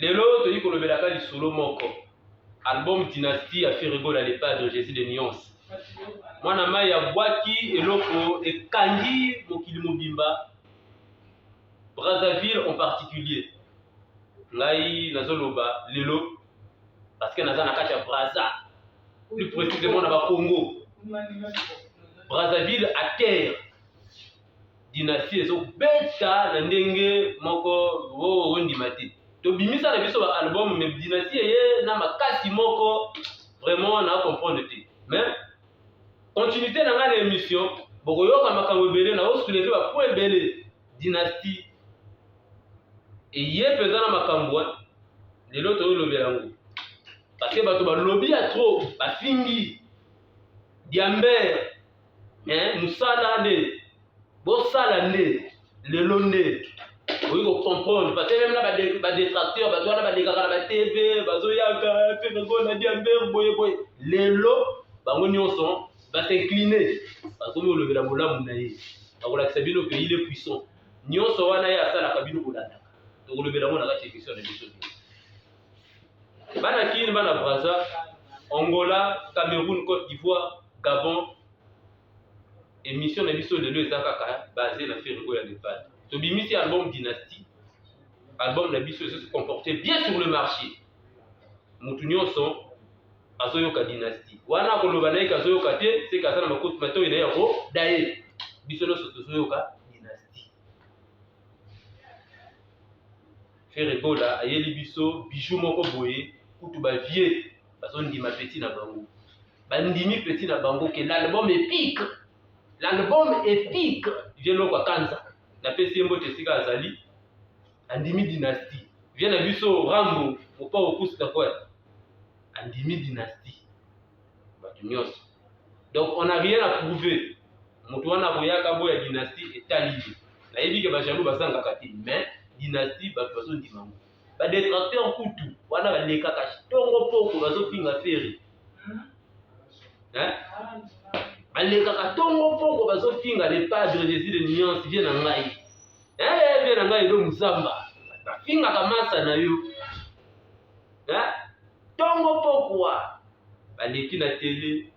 lelo toyei kolobelaka lisolo moko album dynastie ya ferregola le padre jésus de nuance mwana mai abwaki eloko ekangi mokili mobimba brazzaville en particulier ngai nazoloba lelo parce que naza na kati ya brazza plus précisément na bakongo brazzaville à terre dynastie ezo beta na ndenge moko oh ondima te tobimisa na biso ba album mais dynastie ye na makasi moko vraiment na comprendre te mais continuité na ngai na émission bokoyoka makambo ebele na osuleve ba point ebele dynastie eye mpenza na makambo eh. lelo toyolobela yango parce que bato balobi ya trop bafingi diambere eh, mosala nde bosala nde lelo nde oyi kocomprendre parce meme na badetracteur bato wana balekaka na batv bazoyaka mpe nazona diamber boye boye lelo bango nyonso basincline bakomi kolobela bolamu na ye akolakisa bino ke il est puissant nyonso wana ye asalaka bino kolandaka tokolobela yango na kati ya emission na biso bana kin bana braza angola cameroun cote d'ivoire gabon émission na biso lelo eza kaka base na fergo ya nepal tobimisi album dynastie album na biso ezo se comporter bien sur le marché motu nyonso azoyoka dynastie wana akoloba na ye ke azoyoka te seke aza na makoti matoi na ye yango daye biso nyonso tozoyoka dynastie Ferre Gola ayeli biso bijou moko boye kutu ba vieux bazo ndima petit na bango. Bandimi petit na bango que l'album est pique. L'album est pique. Vieux Loko Akanza na pesi ye mbote esika azali andimi dynastie. Vieux na biso Rambo Mopao Kusta Kwai andimi dynastie. bato nyonso donc on a rien à prouver moto wana akoyaka boya dynastie etali ye nayebi ke bajaloux bazangaka te mais dynastie bato bazondima ngo badetracteur kutu wana balekaka tongo poko bazofinga feri balekaka tongo poko bazofinga le padre jésus de nuance vie na ngai eh, vie na ngai edo mozamba bafingaka masa na yo Tongo pokwa. Baleki na tele,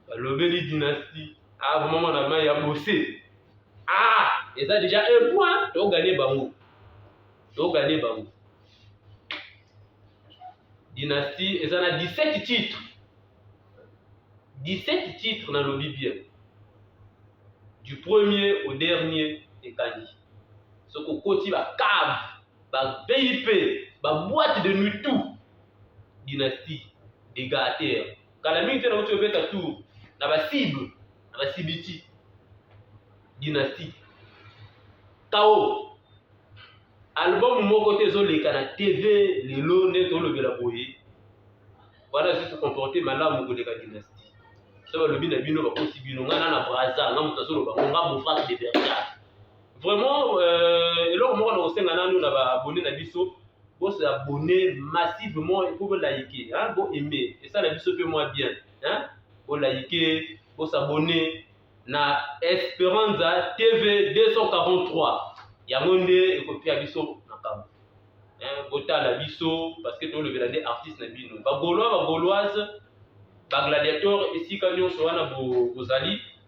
balobeli dynastie. Ah, vraiment mwana mai ya bose. Ah, eza deja un point, togane bango. Togane bango. Dynastie eza na 17 titres. 17 titres na lobi bien. Du premier au dernier ekangi. Soki okoti ba cave ba VIP ba boîte de nuit tout dynastie des gâteurs kala mingi te na kutu obeta tour na ba cible na ba cibiti dynastie kao album moko te ezoleka na tv lelo nde tolobela boye wana susu comporte malamu koleka dynastie so balobi na bino bakosi bino ngai na na braza nga moto azoloba ngo nga bofak de bergard Vraiment, euh, eloko moko na kosenga nanu na ba abonné na biso bo se abonner massivement et pour liker hein, bo aimer et ça la biso pe moi bien hein, bo liker, bo s'abonner na Esperanza TV 243 yango nde ekopia biso makambo hein, botala biso parce que tolobela nde artiste na bino bagolois bagoloise bagladiator esika nyonso wana bozali bo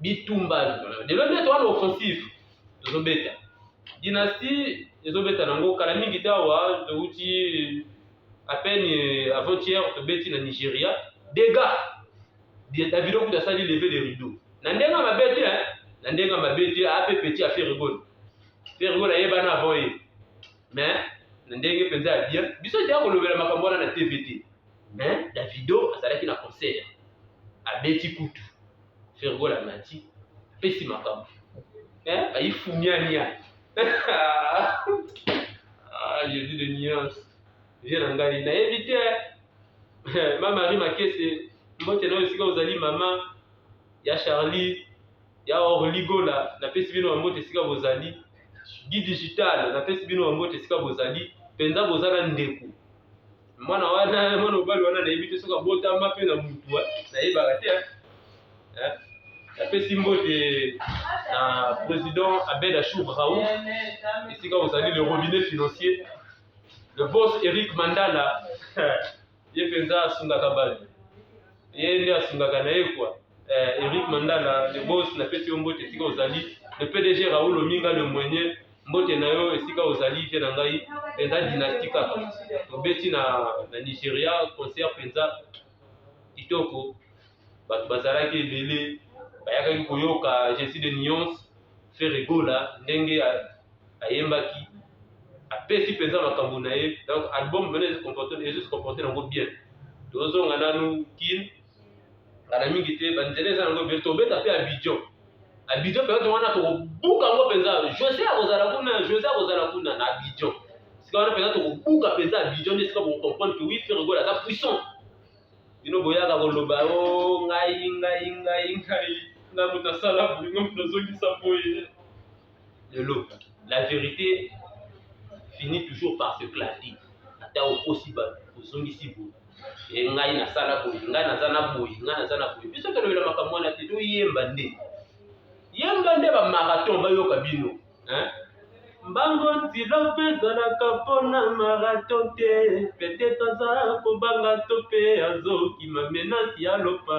bitumba lelo nde towana offensive tozobeta dynastie ezobeta nango kala mingi tawa towuti à peine euh, avant-hier tobeti na nigeria dega davido kutu asali leve le rideau na ndenge ya mabe te na ndenge ya mabe te ape petit ya ferigone ferigone ayebana avant ye mais na ndenge mpenza ya bien biso teya kolobela makambo wana na tv te mais davido azalaki na concert abeti kutu fergol amati apesi makambo eh, ayifumiania ah, jésus de nuance vie na ngai nayebi te eh, ma marie makese mbote nayo esika ozali mama ya charlie ya orligola napesi bino bambote esika bozali gi digital napesi bino bambote esika bozali mpenza boza na ndeko mwana wana mwana mobali wana nayebi te soki abotama mpe na mutu nayebaka te napesi mbote na président abed achour raoul esika ozali le robinet financier le boss eric mandala ye mpenza asungaka bato ye nde asungaka na ye kwa eh, Eric Mandala le boss na pesi yo mbote esika ozali le PDG Raoul Ominga le mwenye mbote na yo esika ozali vie na ngai penza dynastie kaka tobeti na, na Nigeria concert penza kitoko bato bazalaki ebele bayakaki koyoka Jesse de Nuance Ferre Gola ndenge ayembaki apesi mpenza makambo na ye donc album mpena ezi comporte ezi se comporte nango bien tozonga nanu kin ngana mingi te banzela eza nango ebele tobeta mpe abidjon abidjon periode wana tokobuka yango mpenza jose akozala kuna jose akozala kuna na abidjon sika wana mpenza tokobuka mpenza abidjon nde sika bokocomprendre ke wi fergola aza puissant bino boyaka koloba o oh, ngai ngai ngai ngai nga moto asala boye nga moto azongisa boye lelo la verite fini toujours par se clater ata okosi bato ozongisi boye e ngai nasala boye ngai naza na boye ngai naza na boye biso tolobela makambo wana te toyemba nde yemba nde bamarathon bayoka bino mbango ntilo mpe ezalaka mpo na marathon te petete aza kobanga to mpe azokima menasi ya lopa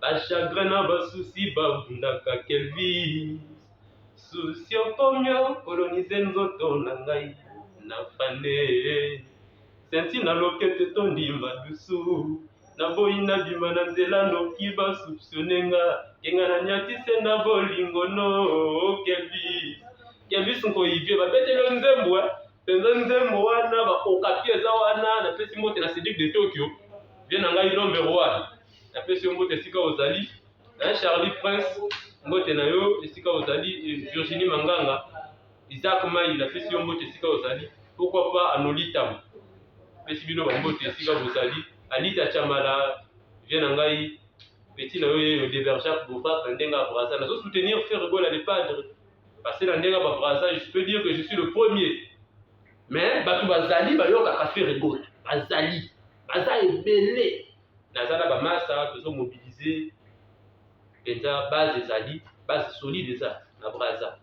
Ba chagrin na ba soucis ba bundaka Kelvis Souci okomi okolonize nzoto na ngai na fane Senti na loketo etondi madusu naboyi nabima na nzela noki basupsione nga kenga na nyatise na bolingo no kelvis kelvis nkoyi vie babeteli yo nzembo eh? Penza nzembo wana ba okapi eza wana na pesi mbote na Cedric de Tokyo bien na ngai Lombe Royal na pesi yo mbote esika ozali hein Charlie Prince mbote na yo esika ozali Virginie Manganga Isaac Mai na pesi yo mbote esika ozali pourquoi pas Anolitam pesi bino ba mbote esika bozali Alita Chamala bien na ngai petit na yo ye yo Deverjac Bovac ndenge a brasa nazo soutenir Ferre Gola le padre Parce que na ndenge ba Brazza, je peux dire que je suis le premier. Mais bato bazali bayokaka Ferre Gold, bazali baza ebele. Naza na ba masa tozo mobiliser mpenza base ezali base solide eza na Brazza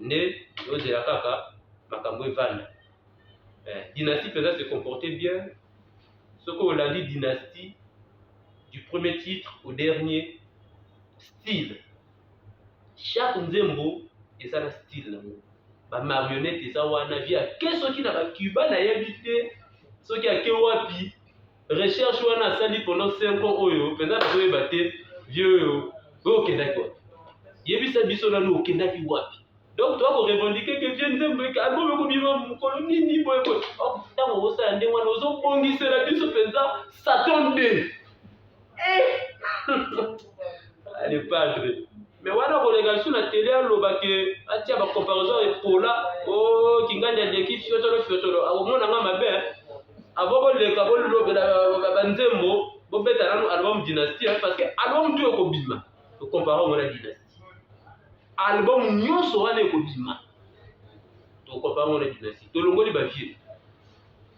nde ozela kaka makambo evanda. Eh, dynastie mpenza se comporter bien soki olandi dynastie du premier titre au dernier style chaque nzembo eza na style nango ba marionnette eza wana vie ake soki na ba cuba nayebi te soki ake wapi recherche wana asali pendant 5 ans oyo mpenza nazoyeba te vie oyo oyo okendaki wapi yebisa biso nanu okendaki wapi donc toa korevendike ke vie nzembo album ekobima mokolo nini boye boye ntango okosala ndenge wana ozobongisela biso mpenza satan 2 le padre me wana koleka lisusu na tele aloba ke atia ba comparaison epola o oh, kingandi aleki fiotolo fiotolo akomona nga mabe avo koleka bolobela banzembo bobeta nanu album dynastie hein, parce que album tu ekobima tokompara yango na dynastie album nyonso wana ekobima tokompara yango na dynastie tolongoli bavie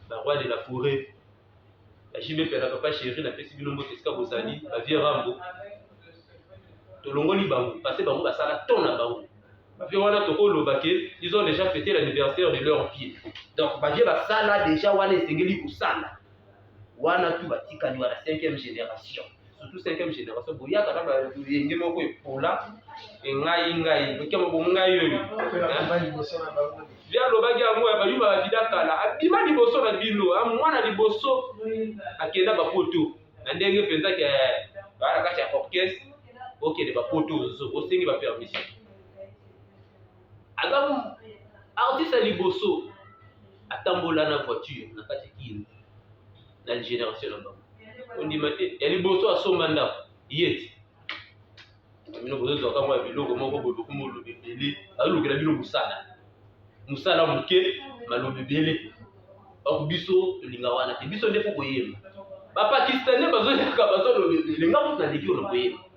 baroi de la forêt ba JB Pela papa chéri na pesi bino mbote esika bozali ba vieux Rambo tolongoli bango parce bango basala ton na bango bavie wana tokoloba ke ils ont déjà fêté l'anniversaire de leur pied donc bavie basala déjà wana esengeli kosala wana tu batikali wana cinquième génération surtout cinquième génération boyaka na bayenge moko epola engai ngai lokia moko ngai oyo bia alobaki yango ya bayuma babida kala abima liboso na bino mwana liboso akenda bapoto na ndenge mpenza ke baa na kati ya orchestre okende bapoto ozo osengi bapermission aza artiste ya liboso atambola na voiture na kati kin na generation na bango ondima te ya liboso asomba ndako ye ti bino bozozwaka mwa biloko moko boluku molobi ebele azolukela bino mosala mosala moke malobi ebele donc biso tolinga wana te biso nde mpo koyemba bapakistanais bazoyaka bazoloba ebele nga moto naleki oyo na koyemba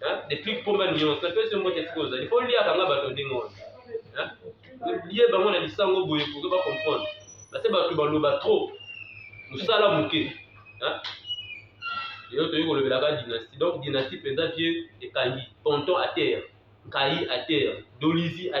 Hein? Depuis combien de nuances napesi yo mbote esika ozali mpo liaka nga bato ndenge wana hein? lie bango na lisango boye poke bacomprendre base bato baloba trop mosala moke hein? lelo toyei kolobelaka dynastie donc dynastie mpenza vie ekangi ponton à terre nkai à terre dolizi à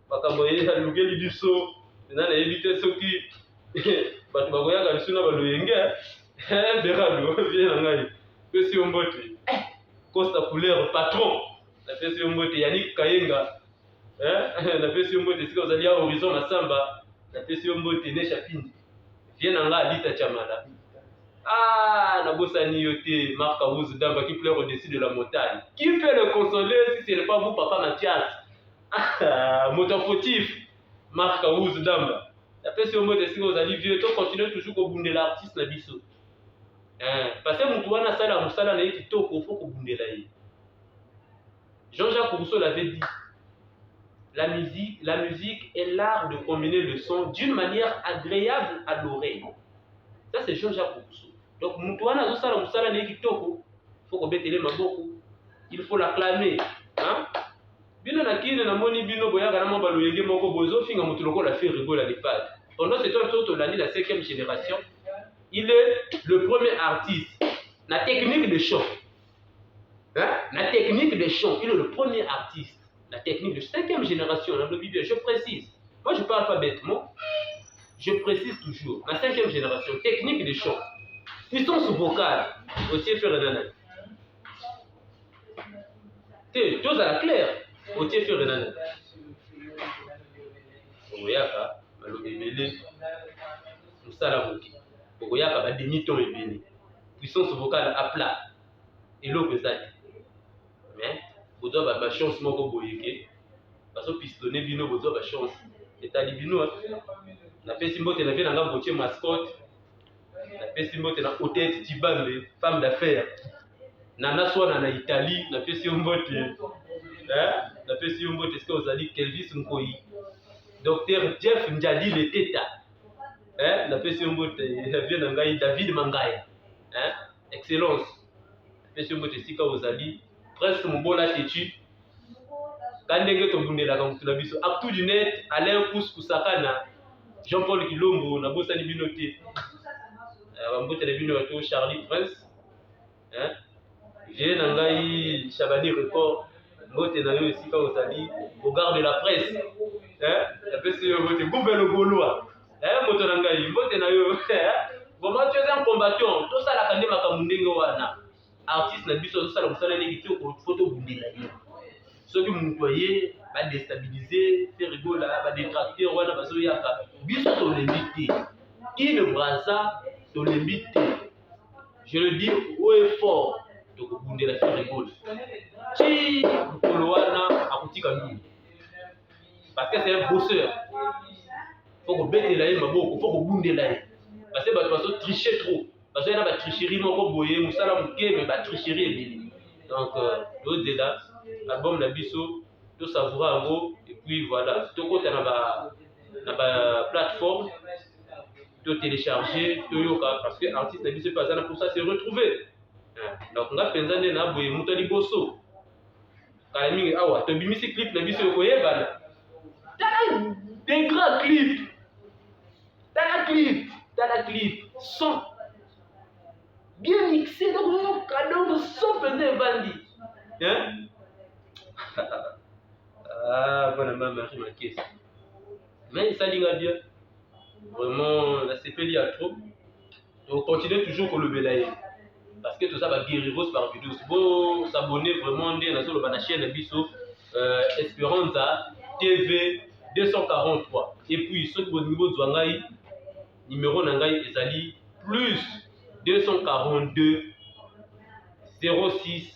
makambo ye alukeli biso ena nayebi te soki bato bakoyaka lisusu na baloyenge berado eh, vie na ngai pesi yo mbote eh, costa couleur patron napesi yo mbote yanik kayenga eh, napesi yo mbote esika ozali ya horizon na samba napesi yo mbote nesha pindi vie na ngai alita chamala Ah, Nabosani Yote, Marc Aouz Damba qui pleure au-dessus de la montagne. Qui peut le consoler si ce n'est pas vous, papa Mathias Ah, moto ya fautif mark awuz damba napesi yo mbote esika ozali vieux to continue toujours kobundela artiste na biso eh, pase motu wana asala mosala na ye kitoko fo kobundela ye jean-jacques rousseau l'avait dit la musique, la musique est l'art de combiner le son d'une manière agréable à l'oreille ça c'est jean-jacques rousseau donc motu wana azosala mosala na ye kitoko fo kobetele maboko il faut l'acclamer hein? Bino na kin na moni bino boyaka na mwa ba loyenge moko bozo finga mutu lokola Ferre Gola le padre. Pendant ce temps biso tolandi na 5e génération, il est le premier artiste na technique de chant. Hein? Na technique de chant, il est le premier artiste la technique de cinquième génération, la Bible, je précise. Moi, je parle pas bêtement. Je précise toujours, la cinquième génération, technique des chants, puissance vocale, aussi faire un te tozala claire otie fere nani okoyaka balobi ebele mosala moke okoyaka ba demi ton ebele puissance vocale a plat eloko eza te mais bozwa ba ba chance moko boye ke bazo pistonne bino bozwa ba chance etali bino napesi mbote na vie na nga botie mascotte napesi mbote na otete cibambe femme d'affaire nana swana na italie napesi yo mbote napesi yo mbote sika ozali kelvis nkoi docteur jeff njadi leteta napesi yo mbote vie na ngai david mangaya excellence napesi yo mbote esika ozali presque mobola tetu ka ndenge tobundelaka motu na biso actu du net alain kus kusakana jean paul kilombo nabosani bino te eh, bambote na bino yato charlie prince eh, vie na ngai chabani record mbote na yo esika ozali bogarde la presse eh, napesi yo mbote gouve logolois Eh, moto na ngai, mbote na yo. Vraiment, tu es un combattant. Tosalaka nde makambo ndenge wana. Artiste na biso azosala mosala nde kitoko, faut tobundela ye. Soki moto aye ba déstabiliser, faire rigola, ba détracter wana bazoyaka, biso tolembi te. Ile Brazza tolembi te. Je le dis haut et fort, tokobundela faire rigola. Ti mokolo wana akotika nini? parce que c'est un bosseur faut kobetela ye maboko faut kobundela ye parce que bato bazo tricher trop bazoya na batricherie moko boye mosala moke me batricherie ebele donc euh, tozela album na biso tosavoura yango epuis voilà tokota na ba na ba plateforme totelecharge toyoka parce que artiste na biso mpe aza na mposa se retrouver donc nga mpenza nde na boye moto ya liboso kala mingi awa tobimisi clip na biso okoyebana tala degra clip tala clip tala clip son bien mixé donc yoka donc son mpenza evandi mpona ah, ma marie makesi mais esalinga bien vraiment nasepeli ya trop to continue toujours kolobela ye parce que toza ba guerreros par vidéos bo s'abonner vraiment nde nazoloba na chaîne biso euh, Esperanza TV 243 et puis soki bolingi bozwa ngai numéro na ngai ezali plus 242 06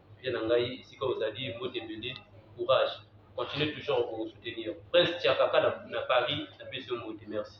vie na ngai esika ozali mbote ebele courage continue toujours kosoutenir prince tiakaka na paris na pesi yo mbote merci